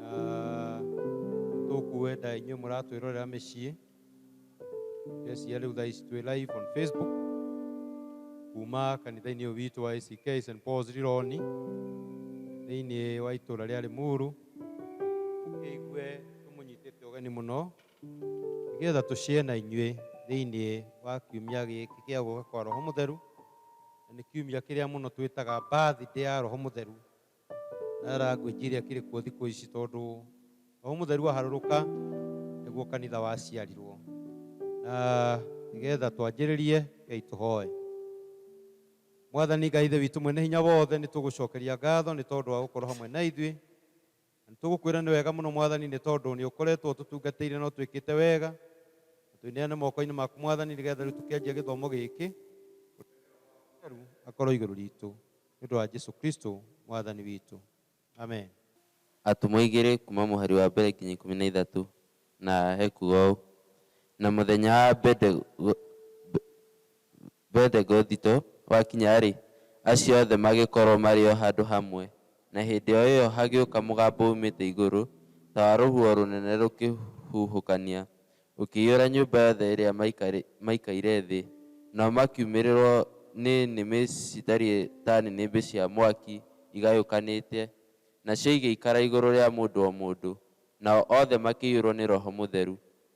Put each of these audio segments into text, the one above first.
na tũkuenda inyuĩ mũratwĩrorera mĩciĩ esia rĩu thaa ici twĩ live on facebook kuma kanitha-inĩ ũyũ witũ wa ACK St Paul's Rironi thĩinĩ wa itũra rĩa Limuru tũkĩigue tũmũnyitĩte ũgeni mũno nĩgetha tũcĩe na inyuĩ thĩinĩ wa kiumia gĩkĩ kĩa gũka kwa roho mũtheru na nĩ kiumia kĩrĩa mũno twĩtaga birthday ya roho mũtheru na language iria kiri kuo thiku ici tondu Roho Mutheru aharuruka niguo kanitha waciarirwo na nigetha twanjiririe kei tuhoe Mwathani Ngai Ithe witũ mwene hinya wothe nĩ tũgũcokeria ngatho nĩ tondũ wa gũkorwo hamwe na ithuĩ na nĩ tũgũkwĩra nĩ wega mũno Mwathani nĩ tondũ nĩ ũkoretwo ũtũtungatĩire na ũtwĩkĩte wega na twĩneane moko-inĩ maku Mwathani nĩgetha rĩu tũkĩanjia gĩthomo gĩkĩ akorwo igũrũ ritũ Nĩ ũndũ wa Jesu Kristo Mwathani witũ. Amen. Atũmwo igĩrĩ kuuma mũhari wa mbere nginya ikũmi na ithatũ, na ekuuga ũũ, Na mũthenya wa Bendegothito wakinya-rĩ, acio othe magĩkorwo marĩ o handũ hamwe, na hĩndĩ o ĩyo hagĩũka mũgambo uumĩte igũrũ, ta wa rũhuho rũnene rũkĩhuhũkania, Ũkĩiyũra nyũmba yothe ĩrĩa maikaire thĩ, nao makiumĩrĩrwo nĩ nĩmĩ citariĩ ta nĩnĩmbĩ cia mwaki igayũkanĩte, nacio igĩikara igũrũ rĩa mũndũ o mũndũ, nao othe makĩiyũrwo nĩ Roho Mũtheru,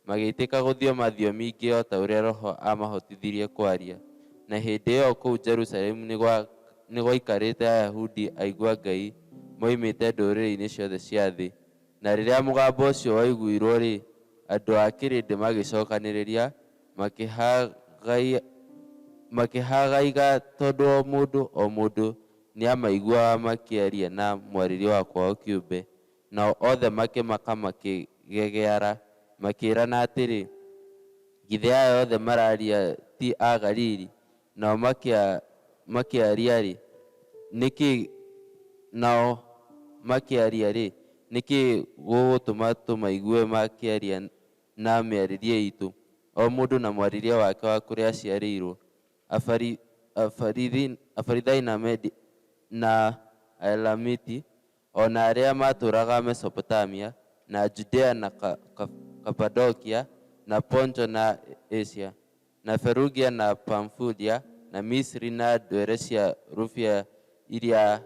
magĩitĩka gũthioma thiomi ingĩ o ta ũrĩa Roho aamahotithirie kwaria. Na hĩndĩ ĩyo kũu Jerusalemu nĩ gwaikarĩte Ayahudi aigua Ngai moimĩte ndũrĩrĩ-inĩ ciothe cia thĩ, Na rĩrĩa mũgambo ũcio waiguirũo-rĩ, andũ a kĩrĩndĩ magĩcokanĩrĩria, makĩhagaia, makĩhagaiga tondũ o mũndũ o mũndũ nĩamaiguaga makĩaria na mwarĩrie wa kwao kĩũmbe, nao othe makĩmaka makĩgegeara, makĩĩrana atĩrĩ, Githĩ aya othe mararia ti a Galili? Nao makĩaria-rĩ, nĩkĩ Nao makĩaria-rĩ, nĩkĩ gũgũtũma tũmaigue makĩaria na mĩarĩrie itũ, o mũndũ na mwarĩrie wake wa kũrĩa aciarĩirwo? Afari, Afarithi, Afarithai na Amedi na Aelamiti, o na arĩa maatũũraga Mesopotamia, na Judea na Ka, Ka, Kapadokia, na Ponto na Asia. na Ferugia, na Pamfulia, na Misiri, na ndwere cia rũbia iria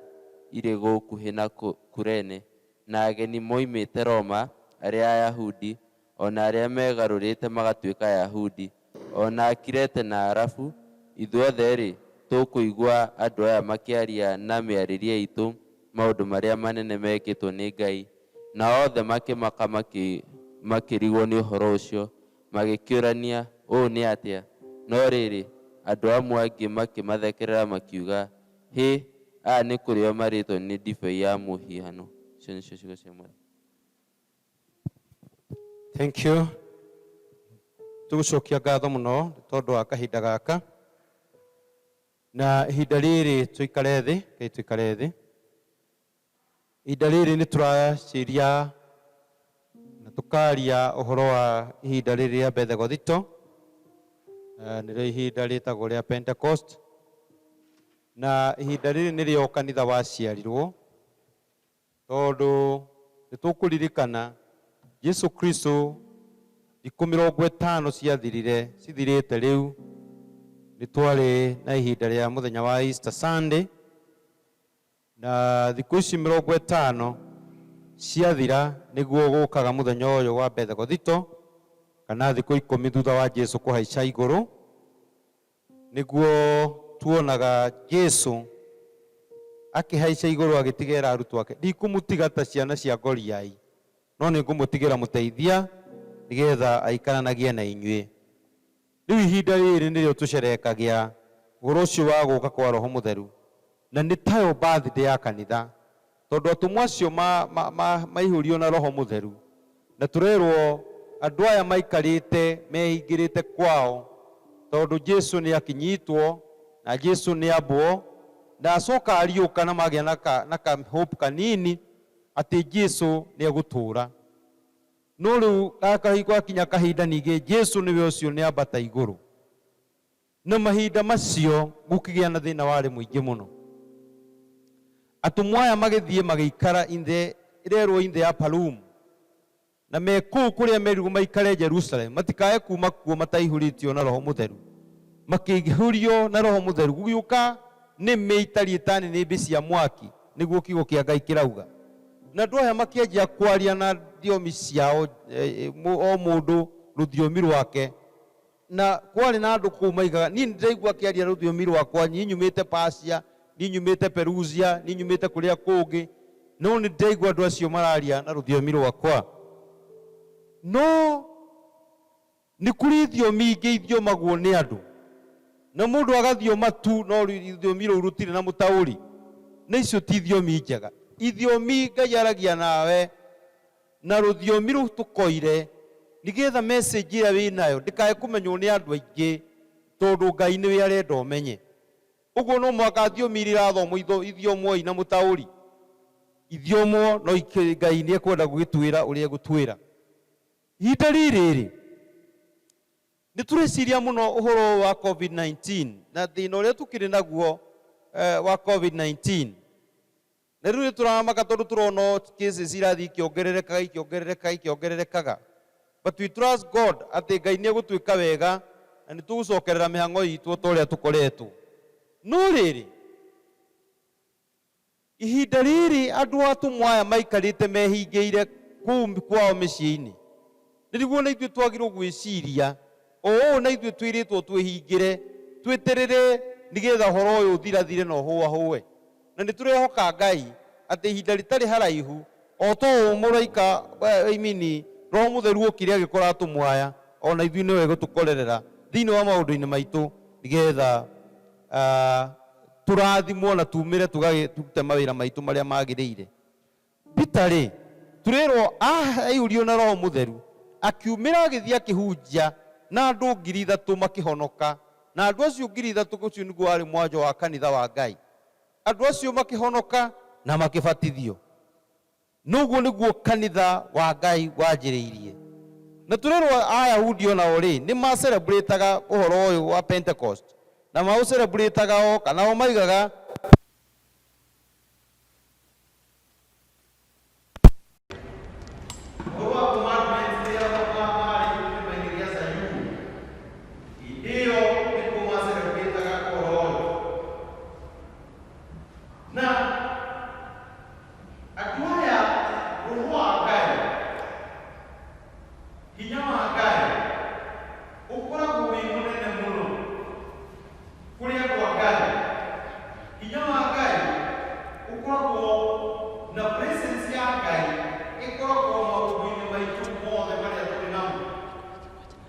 irĩ gũkuhĩ na Kurene, na ageni moimĩte Roma, arĩa Ayahudi, o na arĩa megarũrĩte magatuĩka Ayahudi, o na Akirete na Aarabu, ithuothe-rĩ, tũkũigua andũ aya makĩaria na mĩarĩrie itũ maũndũ marĩa manene mekĩtwo nĩ Ngai. Na othe makĩmaka makĩrigwo nĩ ũhoro ũcio, Magĩkĩũrania, Ũũ nĩ atĩa? No rĩrĩ, andũ amwe angĩ makĩmathekerera makiuga, Hĩ! Aya nĩ kũrĩo marĩĩtwo nĩ ndibei ya mũhihano. Icio nĩcio ciugo cia Mwathani. Thank you. Tũgũcokia ngatho mũno nĩ tondũ wa kahinda gaka. Na ihinda rĩrĩ tũikare thĩ, reke tũikare thĩ. Ihinda rĩrĩ nĩ tũracĩria na tũkaria ũhoro wa ihinda rĩrĩ rĩa Bethegothito, eh, nĩrĩo ihinda rĩtagwo rĩa Pentecost, na ihinda rĩrĩ nĩrĩo kanitha waciarirwo, tondũ nĩ tũkũririkana Jesu Kristo thikũ mĩrongo ĩtano ciathirire, cithirĩte rĩu, nĩ twarĩ na ihinda rĩa mũthenya wa Easter Sunday, Na thikũ ici mĩrongo ĩtano ciathira, nĩguo gũkaga mũthenya ũyũ wa Bethegothito, kana thikũ ikũmi thutha wa Jesu kũhaica igũrũ, nĩguo tuonaga Jesu akĩhaica igũrũ agĩtigera arutwo ake. Ndikũmũtiga ta ciana cia ngoriai, no nĩ ngũmũtigĩra mũteithia, nĩgetha aikaranagie na inyuĩ. Rĩu ihinda rĩrĩ nĩrĩo tũcerehekagĩa ũhoro ũcio wa gũka kwa Roho Mũtheru, na nĩ tayo birthday ya kanitha, tondũ atũmwo acio ma, ma, ma, maihũrio na Roho Mũtheru, na tũrerwo andũ aya maikarĩte mehingĩrĩte kwao, tondũ Jesu nĩ akinyitwo, na Jesu nĩ ambwo, na acoka ariũka na magĩa na ka, na ka hope kanini atĩ Jesu nĩ egũtũũra. No rĩu gaka gwakinya kahinda ningĩ Jesu nĩwe ũcio nĩambata igũrũ. Na mahinda macio gũkĩgĩa na thĩna warĩ mũingĩ mũno. Atũmwo aya magĩthiĩ magĩikara inthe ĩrerwo inthe ya Palumu. Na me kũu kũrĩa merirwo maikare Jerusalemu matikae kuma kuo mataihũrĩtio na Roho Mũtheru. Makĩihũrio na Roho Mũtheru gũgĩũka nĩmĩ itariĩ ta nĩnĩmbĩ cia mwaki. nĩguo kiugo kĩa Ngai kĩrauga. Na andũ aya makĩanjia kwaria na thiomi ciao, o mũndũ rũthiomi rwake, na kwarĩ na andũ kũu maigaga, niĩ nĩndĩraigua akĩaria rũthiomi rwakwa, niĩ nyumĩte Persia, niĩ nyumĩte Perusia, niĩ nyumĩte kũrĩa kũngĩ, no nĩndĩraigua andũ acio mararia na rũthiomi rwakwa. No. Nĩ kũrĩ ithiomi ingĩ ithiomagwo nĩ andũ, na mũndũ agathioma tu, no rũthiomi rũu rũtirĩ na mũtaũri, na icio ti ithiomi njega. Ithiomi Ngai aragia nawe na rũthiomi rũtũkoire, nĩ getha message ĩrĩa wĩ nayo ndĩkae kũmenywo nĩ andũ aingĩ, tondũ Ngai nĩwe arenda ũmenye. Ũguo no mũhaka thiomi iria irathomwo ithiomwo ina mũtaũri, ithiomwo, no Ngai nĩ ekwenda gũgĩtwĩra ũrĩa egũtwĩra. Ihinda rĩrĩ-rĩ, nĩ tũreciria mũno ũhoro ũyũ wa Covid 19 na thĩna ũrĩa tũkĩrĩ naguo wa Covid 19. Na rĩu nĩ tũramaka tondũ tũrona ũũ cases irathiĩ ikĩongererekaga, ikĩongererekaga, ikĩongererekaga. But we trust God atĩ Ngai nĩ egũtwĩka wega na nĩ tũgũcokerera mĩhang'o itũ o ta ũrĩa tũkoretwo. No rĩrĩ, Ihinda rĩrĩ andũ atũmwo aya maikarĩte mehingĩire kũu kwao mĩciĩ-inĩ. Nĩguo na ithuĩ twagĩrĩirũo gwĩciria o ũũ na ithuĩ twĩrĩtwo twĩhingĩre, twĩterere nĩgetha ũhoro ũyũ ũthirathire na ũhũahũe. Na nĩ tũrehoka Ngai atĩ ihinda rĩtarĩ haraihu, o ta ũũ mũraika, I mean, Roho Mũtheru okire agĩkora atũmwo aya, o na ithuĩ nĩwe egũtũkorerera thĩinĩ wa maũndũ-inĩ maitũ nĩgetha. tũrathimwo na tumĩre tũgagĩtute mawĩra maitũ marĩa magĩrĩire. Peter-rĩ, tũrerwo aiyũririo na Roho Mũtheru, akiumĩra agĩthiĩ akĩhunjia na andũ ngiri ithatũ makĩhonoka, na andũ acio ngiri ithatũ ũcio nĩguo warĩ mwanjo wa kanitha wa Ngai. Andũ acio makĩhonoka na makĩbatithio. Na ũguo nĩguo kanitha wa Ngai wanjĩrĩirie. Na tũrerwo Ayahudi o nao-rĩ, nĩ ma celebrataga ũhoro ũyũ wa Pentecost, na maũ celebrataga o, kana o maigaga atĩ nĩ Ũhoro wa Commandments rĩrĩa Baba aarĩ kĩrĩma-inĩ gĩa Zayuni. Hĩndĩ ĩyo nĩkuo ma celebrataga ũhoro ũyũ. Na. Andũ aya roho wa Ngai, hinya wa Ngai ũkoragwo wĩ mũnene mũno kũrĩ andũ a Ngai. Hinya wa Ngai ũkoragwo na presence ya Ngai ĩkoragwo maũndũ-inĩ maitũ mothe marĩa twĩ namo.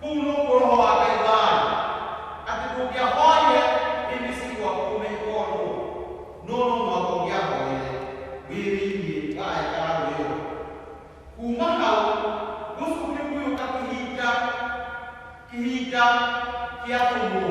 Kũu nũkw'o Roho wa Ngai waĩ, atĩ ndũngĩahoire ĩndĩ ci gwaku ũmenye o nũũ, no no mũhaka ũngĩahoire wĩ thĩinĩ wa Hekaarũ ĩyo. Kuuma hau gũcokire gũgĩũka kĩhinda, kĩhinda kĩa atũmwo.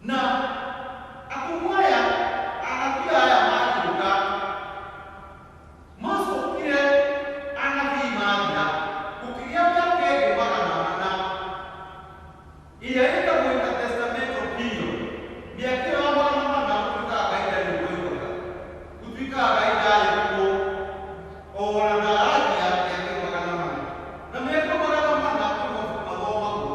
Na akũmũ aya anabii aya makiuga, Macokire anabii mathira, gũkĩgĩa mĩaka ĩngĩ magana mana, ĩrĩa ĩtagwo intertestamental period. Mĩaka ĩyo ya magana mana gũtuĩkaga Ngai ndarĩ kuo yoigaga, gũtuĩkaga Ngai ndarĩ kuo, o na ndaragia mĩaka ĩyo magana mana. Na mĩaka ĩyo magana mana nĩ mabuku mathomagwo,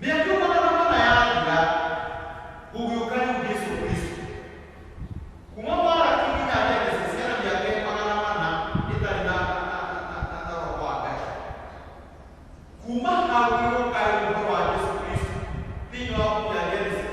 Mĩaka igana na mana yathira, gũgĩũka rĩu Jesu Kristo. Kuma Malaki nginya Genesis hena mĩaka ĩrĩ magana mana ĩtarĩ na na- na- na- na- na roho wa Ngai. Kuma hau gũgĩũka rĩu ũhoro wa Jesu Kristo thĩinĩ wa buku ya Genesis.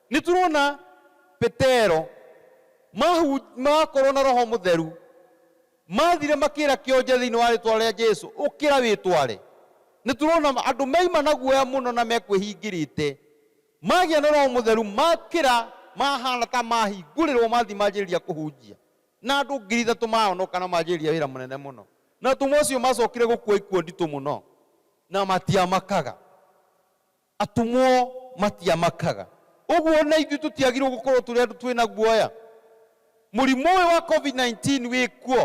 Nĩ tũrona Petero, mahu, makorwo na Roho Mũtheru, mathire makĩra kĩonje thĩinĩ wa rĩtwa rĩa Jesu, ũkĩra wĩtware. Nĩ tũrona andũ maima na guoya mũno na mekwĩhingĩrĩte, magĩa na Roho Mũtheru, makĩra, mahana ta mahingũrĩrwo, mathi manjĩrĩria kũhunjia, na andũ ngiri ithatũ mahonoka na manjĩrĩria wĩra mũnene mũno. Na atũmwo acio macokire gũkua ikuũ nditũ mũno, na matiamakaga. Atũmwo matiamakaga ũguo, na ithuĩ tũtiagĩrĩirũo gũkorũo tũrĩ andũ twĩ na guoya. Mũrimũ ũyũ wa Covid-19 wĩ kuo,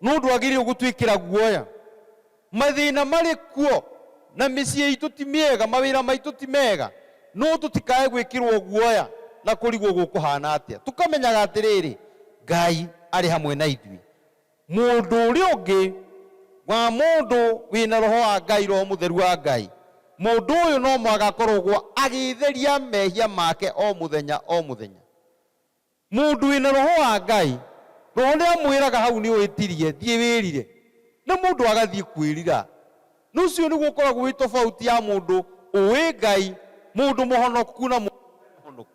no ndwagĩrĩirũo gũtwĩkĩra guoya. Mathĩna marĩ kuo, na mĩciĩ itũ ti mĩega, mawĩra maitũ ti mega, no tũtikae gwĩkĩrũo guoya na kũrigwo gũkũhaana atĩa. Tũkamenyaga atĩrĩrĩ, Ngai arĩ hamwe na ithuĩ. Mũndũ ũrĩa ũngĩ wa mũndũ wĩ na Roho wa Ngai, Roho Mũtheru wa Ngai, mũndũ ũyũ no mũhaka akorogwo agĩĩtheria mehia make o mũthenya o mũthenya. Mũndũ wĩ na Roho wa Ngai, Roho nĩ amwĩraga hau nĩ ũĩtirie, thiĩ wĩrire. Na mũndũ agathiĩ kwĩrira. Na ũcio nĩguo ũkoragwo wĩ tofauti ya mũndũ ũĩ Ngai, mũndũ mũhonoku na mũndũ ũtarĩ mũhonoku.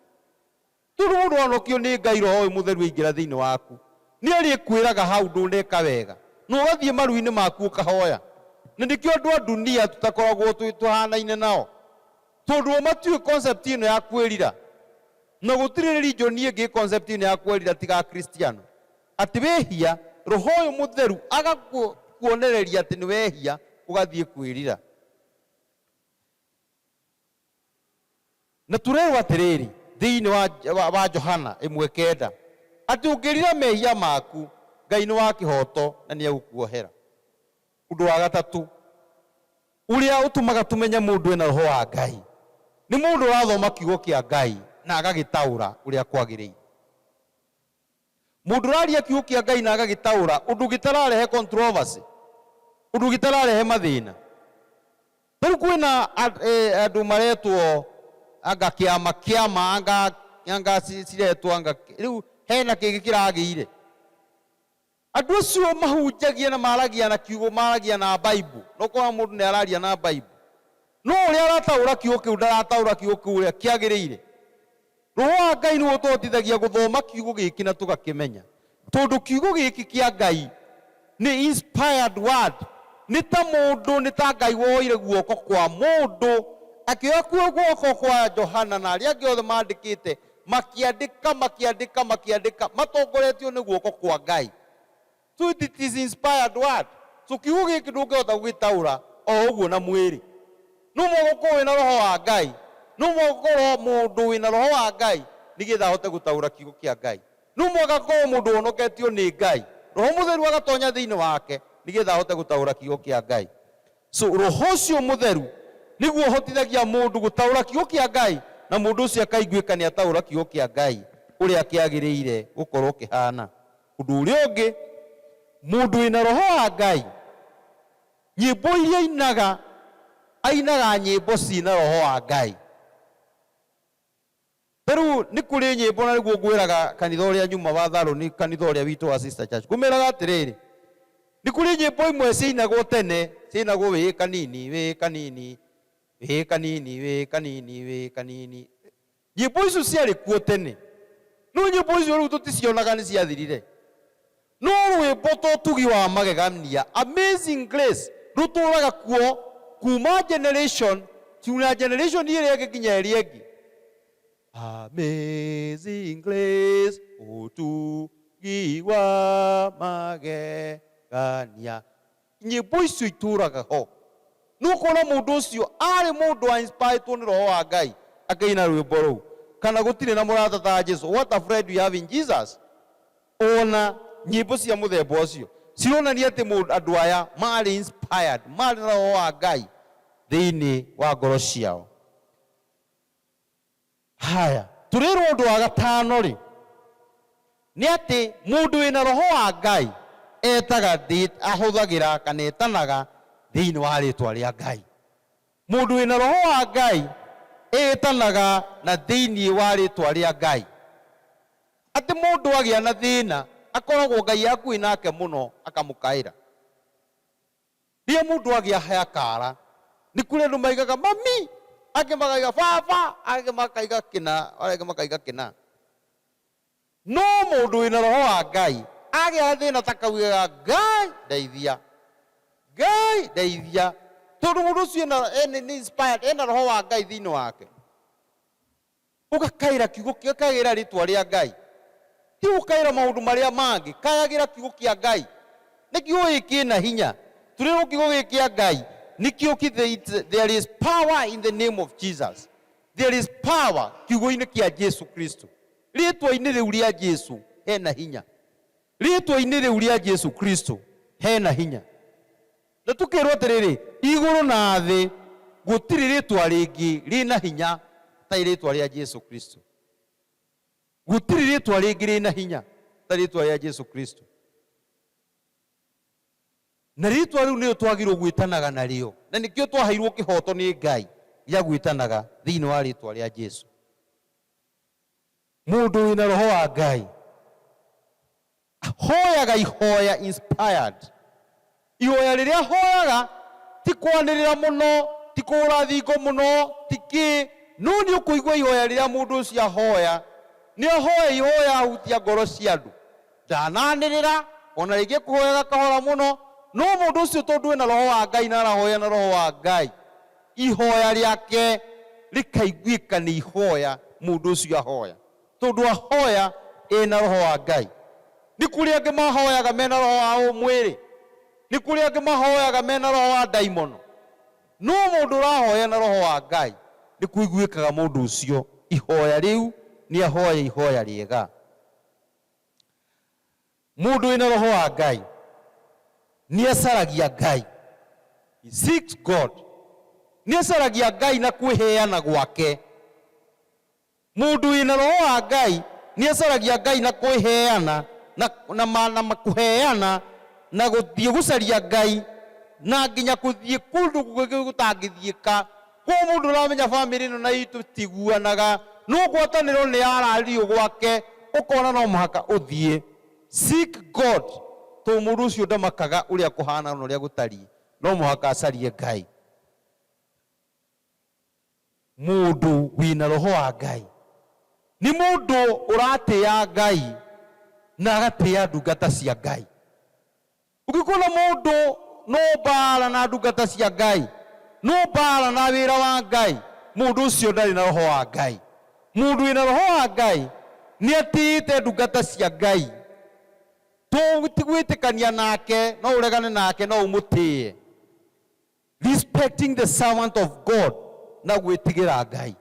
Tondũ mũndũ wahonokio nĩ Ngai Roho ũyũ Mũtheru aingĩra thĩinĩ waku, nĩarĩkwĩraga hau ndũneka wega, na ũgathiĩ maru-inĩ maku ũkahoya. Na nĩkĩo andũ a ndunia tũtakoragwo twĩ tũhanaine nao, tondũ o matiũĩ concept ĩno ya kwĩrira, na gũtirĩ religion ĩngĩ ĩ concept ĩno ya kwerira tiga Akristiano. Atĩ wĩhia, Roho ũyũ Mũtheru agakuonereria atĩ nĩwehia, ũgathiĩ kwĩrira. Na tũreerwo atĩrĩrĩ, thĩinĩ wa, wa, wa Johana ĩmwe kenda, atĩ ũngĩrira mehia maku, Ngai nĩ wa kĩhooto na nĩ egũkuohera. Ũndũ wa gatatũ ũrĩa ũtũmaga tũmenye mũndũ ena Roho wa Ngai, nĩ mũndũ ũrathoma Kiugo kĩa Ngai na agagĩtaũra ũrĩa kwagĩrĩire. Mũndũ ũraria kiugo kĩa Ngai na agagĩtaũra ũndũ gĩtararehe controversy, ũndũ gĩtararehe mathĩna. Ta rĩu kwĩna andũ maretwo anga kĩama kĩama anga anga ciretwo anga rĩu hena kĩngĩ kĩragĩire. Andũ acio mahunjagia na maragia na kiugo maragia na Bible na ũkona mũndũ nĩ araria na Bible no ũrĩa arataũra kiugo kĩu ndarataũra kiugo kĩu ũrĩa kĩagĩrĩire. Roho wa Ngai nĩ ũtũhotithagia gũthoma kiugo gĩkĩ na tũgakĩmenya. Tondũ kiugo gĩkĩ kĩa Ngai nĩ inspired word, nĩ ta mũndũ, nĩ ta Ngai woire guoko kwa mũndũ, akĩoya kuo guoko kwa Johana na arĩa angĩ othe maandĩkĩte, makĩandĩka, makĩandĩka, makĩandĩka, matongoretio nĩ guoko kwa Ngai. Tweet it is inspired word. So kiugo gĩkĩ ndũngĩhota gũgĩtaũra o ũguo na mwĩrĩ. No mũhaka ũkorwo wĩna roho wa Ngai. No mũhaka ũkorwo mũndũ wĩna roho wa Ngai nĩgetha ahote gũtaũra kiugo kĩa Ngai. No mũhaka akorwo mũndũ ũhonoketio nĩ Ngai. Roho mũtheru agatonya thĩinĩ wake nĩgetha ahote gũtaũra kiugo kĩa Ngai. So roho ũcio mũtheru nĩguo ũhotithagia mũndũ gũtaũra kiugo kĩa Ngai na mũndũ ũcio akaiguĩka nĩataũra kiugo kĩa Ngai ũrĩa kĩagĩrĩire gũkorwo kĩhana. Ũndũ ũrĩa ũngĩ, mũndũ wĩ na roho wa Ngai, nyĩmbo iria ainaga, ainaga nyĩmbo ciĩ na roho wa Ngai. Ta rĩu nĩ kũrĩ nyĩmbo, na nĩguo ngwĩraga kanitha ũrĩa nyumaga, Tharoni, kanitha ũrĩa witũ wa Sister Church, ngũmeraga atĩrĩrĩ, nĩ kũrĩ nyĩmbo imwe ciainagwo tene, ciainagwo wĩ kanini, wĩ kanini, wĩ kanini, wĩ kanini, wĩ kanini, Nyĩmbo icio ciarĩ kuo tene, no nyĩmbo icio rĩu tũticionaga, nĩ ciathirire. No rwĩmbo ta Ũtugi wa Magegania, Amazing Grace, rũtũũraga kuo kuuma generation kinya generation ĩrĩa ĩngĩ nginya ĩrĩa ĩngĩ. Amazing Grace, Ũtugi wa Magegania, Nyĩmbo icio itũũraga ho. Nĩ ũkuona mũndũ ũcio aarĩ mũndũ wa inspiretwo nĩ Roho wa Ngai akĩina rwĩmbo rũu. Kana Gũtirĩ na Mũrata ta Jesu, What a Friend We Have in Jesus. O na nyĩmbo cia mũthemba ũcio cironania atĩ mũndũ, andũ aya maarĩ inspired, maarĩ na Roho wa Ngai thĩinĩ wa ngoro ciao. Haya, tũrĩrwo ũndũ wa gatano-rĩ, nĩ atĩ mũndũ wĩ na roho wa Ngai etaga, ahũthagĩra kana etanaga thĩinĩ wa rĩtwa rĩa Ngai. Mũndũ wĩ na roho wa Ngai etanaga na thĩinĩ wa rĩtwa rĩa Ngai. Atĩ mũndũ agĩa na thĩna akoragwo Ngai e hakuhĩ nake mũno akamũkaĩra. Rĩrĩa mũndũ agĩa he akara, nĩ kũrĩ andũ maigaga mami, angĩ makaiga baba, angĩ makaiga kĩna, arĩa angĩ makaiga kĩna. No mũndũ wĩna roho wa Ngai agĩa gathĩna ta kau augaga Ngai ndeithia, Ngai ndeithia, tondũ mũndũ ũcio ena, nĩ inspired, ena roho wa Ngai thĩinĩ wake. Ũgakaĩra kiugo, gakayagĩra rĩtwa rĩa Ngai. Ti gũkaĩra maũndũ marĩa mangĩ, kayagĩra kiugo kĩa Ngai. Nĩkĩo ĩ kĩna hinya. Tũrĩrwo kiugo gĩkĩ kĩa Ngai nĩkĩo kĩ, there is power in the name of Jesus. There is power kiugo-inĩ kĩa Jesu Kristo. Rĩtwa-inĩ rĩu rĩa Jesu hena hinya. Rĩtwa-inĩ rĩu rĩa Jesu Kristo hena hinya. Na tũkeerwo atĩrĩrĩ, Igũrũ na thĩ gũtirĩ rĩĩtwa rĩngĩ rĩ na hinya ta rĩĩtwa rĩa Jesu Kristo. Gũtirĩ rĩĩtwa rĩngĩ rĩ na hinya ta rĩĩtwa rĩa Jesu Kristo. Na rĩĩtwa rĩu nĩrĩo twagĩrĩirwo gwĩtanaga narĩo, na nĩkĩo twaheirwo kĩhooto nĩ Ngai gĩa gwĩtanaga thĩinĩ wa rĩĩtwa rĩa Jesu. Mũndũ wĩ na Roho wa Ngai. Hoyaga ihoya inspired. Ihoya rĩrĩa hoyaga ti kwanĩrĩra mũno, ti kũhũra thingo mũno, ti kĩ, no nĩ ũkũigua ihoya rĩrĩa mũndũ ũcio ahoya. Nĩ ahoya ihoya ahutia ngoro cia andũ. Ndananĩrĩra, o na rĩngĩ ekũhoyaga kahora mũno, no mũndũ ũcio tondũ ena Roho wa Ngai na arahoya na Roho wa Ngai, ihoya rĩake rĩkaiguĩka nĩ ihoya mũndũ ũcio ahoya. Tondũ ahoya e na Roho wa Ngai. Nĩ kũrĩ angĩ mahoyaga me na roho wa ũmwĩrĩ. Nĩ kũrĩ angĩ mahoyaga me na roho wa ndaimono. No mũndũ ũrahoya na Roho wa Ngai, nĩ kũiguĩkaga mũndũ ũcio ihoya rĩu nĩ ahoya ihoya rĩega. Mũndũ wĩ na Roho wa Ngai nĩ acaragia Ngai, he seeks God. Nĩ acaragia Ngai na kwĩheana gwake. Mũndũ wĩ na Roho wa Ngai nĩ acaragia Ngai na kwĩheana na na ma na ma kũheana na gũthiĩ gũcaria Ngai na nginya gũthiĩ kũndũ kũngĩ gũtangĩthiĩka. Kwoguo mũndũ ũrĩa ũramenya famĩlĩ ĩno na itũ tiguanaga, no ngwatanĩro nĩ ya araririo gwake ũkona no mũhaka ũthiĩ. Seek God tondũ mũndũ ũcio ndamakaga ũrĩa kũhana na ũrĩa gũtariĩ, no mũhaka acarie Ngai. Mũndũ wĩna roho wa Ngai nĩ mũndũ ũratĩa Ngai na agatĩa ndungata cia Ngai. Ũngĩkona mũndũ no mbaara na ndungata cia Ngai, no mbaara na wĩra wa Ngai, mũndũ ũcio ndarĩ na roho wa Ngai. Mũndũ wĩna roho wa Ngai nĩ atĩĩte ndungata cia Ngai. To ti gwĩtĩkania nake, no ũregane nake, no ũmũtĩĩe. Respecting the servant of God na gwĩtigĩra Ngai.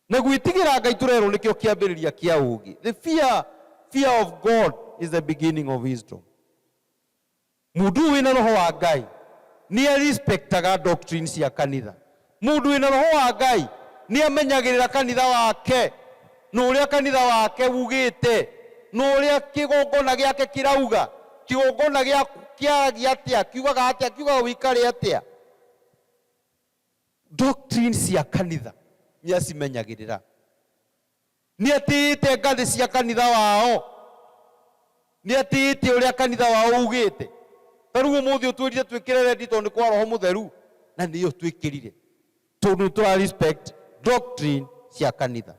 Na gwĩtigĩra Ngai tũrerwo nĩkĩo kĩambĩrĩria kĩa ũũgĩ. The fear, fear of God is the beginning of wisdom. Mũndũ ũyũ wĩna roho wa Ngai nĩ arespectaga doctrine cia kanitha. Mũndũ wĩ na Roho wa Ngai nĩamenyagĩrĩra kanitha wake, na ũrĩa kanitha wake wugĩte, na ũrĩa kĩgongona gĩake kĩrauga. Kĩgongona gĩaku kĩaragia atĩa, kiugaga atĩa, kiugaga ũikare atĩa? Doctrine cia kanitha nĩacimenyagĩrĩra. Nĩatĩĩte ngathĩ cia kanitha wao. Nĩatĩĩte ũrĩa kanitha wao uugĩte. Ta rĩu ũmũthĩ ũtwĩrire twĩkĩre rendi tondũ nĩ kwa Roho Mũtheru, na nĩyo twĩkĩrire, tondũ nĩ tũra respect doctrine cia kanitha.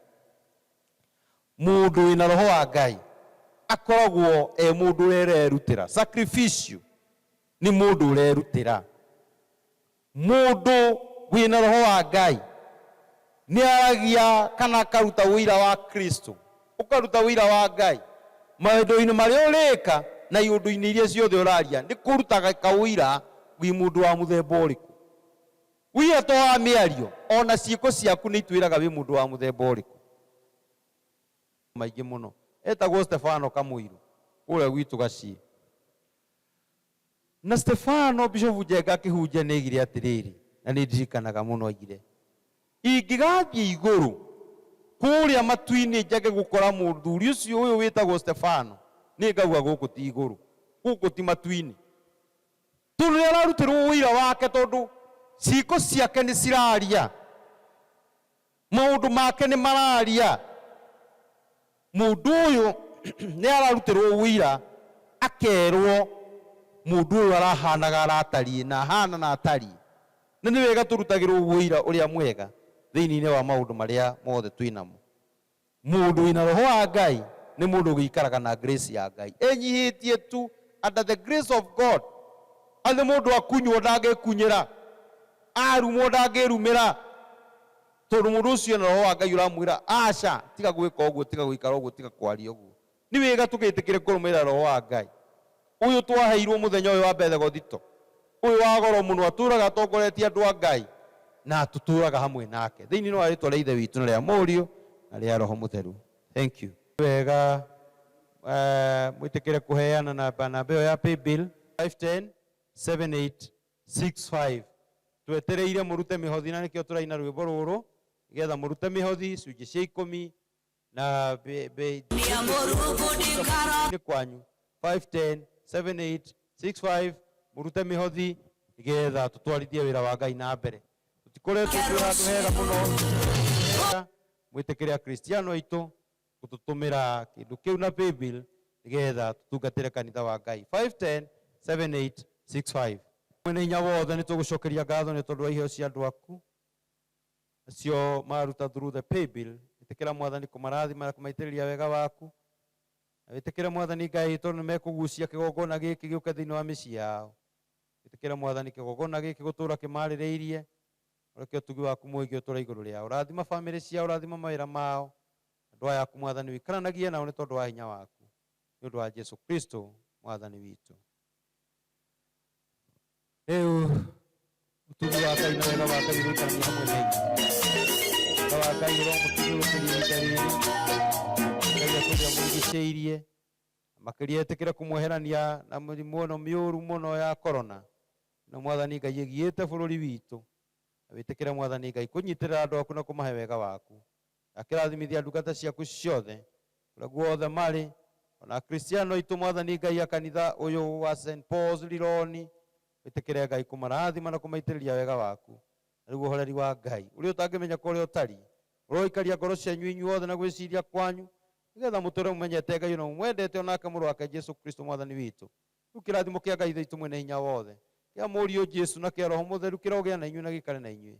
Mũndũ wĩna Roho wa Ngai akoragwo e mũndũ ũrererutĩra, sacrificial, nĩ mũndũ ũrerutĩra. Mũndũ wĩ na Roho wa Ngai nĩ aragia kana akaruta ũira wa Kristo, ũkaruta ũira wa Ngai. Mawendo-inĩ marĩa ũrĩka na iũndũ-inĩ iria ciothe ũraria nĩ kũrutaga kaũira wĩ mũndũ wa mũthemba ũrĩkũ. Ũira to wa mĩario, o na ciĩko ciaku nĩ itwĩraga wĩ mũndũ wa mũthemba ũrĩkũ. Nĩ maingĩ mũno. Etagwo Stefano Kamũirũ kũrĩa gwitũ Gaciĩ. Na Stefano, Bishopu Njenga akĩhunjia, nĩ aigire atĩrĩrĩ, na nĩ ndirikanaga mũno aigire, Ingĩgathiĩ igũrũ kũrĩa matu-inĩ njage gũkora mũthuri ũcio ũyũ wĩtagwo Stefano, nĩ ngagua gũkũ ti igũrũ, gũkũ ti matu-inĩ. Tondũ nĩ ararutĩrwo ũira wake, tondũ ciĩko ciake nĩ ciraria. Maũndũ make nĩ mararia. Mũndũ ũyũ nĩ ararutĩrwo ũira akerwo mũndũ ũyũ arahanaga na atariĩ na ahana na atariĩ. Na nĩ wega tũrutagĩrwo ũira ũrĩa mwega thĩinĩ-inĩ wa maũndũ marĩa mothe twĩnamo. Mũndũ wĩna roho wa Ngai nĩ mũndũ ũgĩikaraga na grace ya Ngai ĩnyihĩtie tu, under the grace of God. Atĩ mũndũ akunywo ndangĩkunyĩra, arumwo ndangĩrumĩra, tondũ mũndũ ũcio ena roho wa Ngai ũramwĩra aca, tiga gwĩka ũguo, tiga gũikara ũguo, tiga kwaria ũguo. Nĩ wĩga tũgĩtĩkĩre kũrũmĩrĩra Roho wa Ngai, ũyũ twaheirwo mũthenya ũyũ wa Bethegothito, ũyũ wa goro mũno, atũũraga atongoretie andũ a Ngai, na tũtũũraga hamwe nake. Thĩinĩ nwa rĩtwa rĩa Ithe witũ, na rĩa Mũriũ, na rĩa Roho Mũtheru. Thank you. Nĩ wega mwĩtĩkĩre kũheana na namba namba ĩyo ya paybill. 517865 Twetereire mũrute mĩhothi na nĩkĩo tũraina rwĩmbo rũrũ, nĩgetha mũrute mĩhothi, icunjĩ cia ikũmi, na be, be, nĩ kwanyu 510 78 65 mũrute mĩhothi nĩgetha tũtwarithie wĩra wa ngai na mbere tũtikoretwo twĩ handũ hega mũno mwĩtĩkĩre akristiano aitũ gũtũtũmĩra kĩndũ kĩu na paybill nĩgetha tũtungatĩre kanitha wa ngai 510 78 65 mwene hinya wothe nĩ tũgũcokeria ngatho nĩ tondũ wa iheo cia andũ aku Acio mararuta through the paybill, ĩtĩkĩra Mwathani kũmarathima na kũmaitĩrĩria wega waku. Na wĩtĩkĩre Mwathani Ngai tondũ nĩmekũgucia kĩgongona gĩkĩ gĩũke thĩinĩ wa mĩciĩ yao. Wĩtĩkĩre Mwathani kĩgongona gĩkĩ gũtũũra kĩmarĩrĩirie, ũreke ũtugi waku mũingĩ ũtũũre igũrũ rĩao. Rathima famĩlĩ ciao, rathima mawĩra mao. Andũ aya aku Mwathani ũikaranagie nao nĩ tondũ wa hinya waku. Nĩ ũndũ wa Jesu Kristo Mwathani witũ. rĩu ũtugi wa ngai na wega wa ngai ũrũtania hamwe na inyuĩ wega wa ngai ũromũtugi gũkĩria ihinda rĩrĩ ngai akũrĩa mũrigicĩirie makĩria etĩkĩre kũmweherania na mĩrimũ ĩno mĩũru mũno ya korona na mwathani ngai ĩgiĩte bũrũri witũ na wĩtĩkĩre mwathani ngai kũnyitĩrĩra andũ aku na kũmahe wega waku Ndakĩrathimithia ndungata ciaku ciothe kũrĩa guothe marĩ, o na Akristiano aitũ, Mwathani Ngai a kanitha ũyũ wa Saint Paul's Lironi, wĩtĩkĩre Ngai kũmarathima na kũmaitĩrĩria wega waku, na rĩu ũhoreri wa Ngai, ũrĩa ũtangĩmenyeka ũrĩa ũtariĩ, ũroikaria ngoro cianyu inyuothe na gwĩciria kwanyu, nĩ getha mũtũũre mũmenyete Ngai na mũmwendete, o nake Mũrũ wake Jesu Kristo Mwathani witũ. Rĩu kĩrathimo kĩa Ngai Ithe witũ Mwene-Hinya-Wothe, kĩa Mũriũ Jesu, na kĩa Roho Mũtheru kĩrogĩa na inyuĩ na gĩikare na inyuĩ.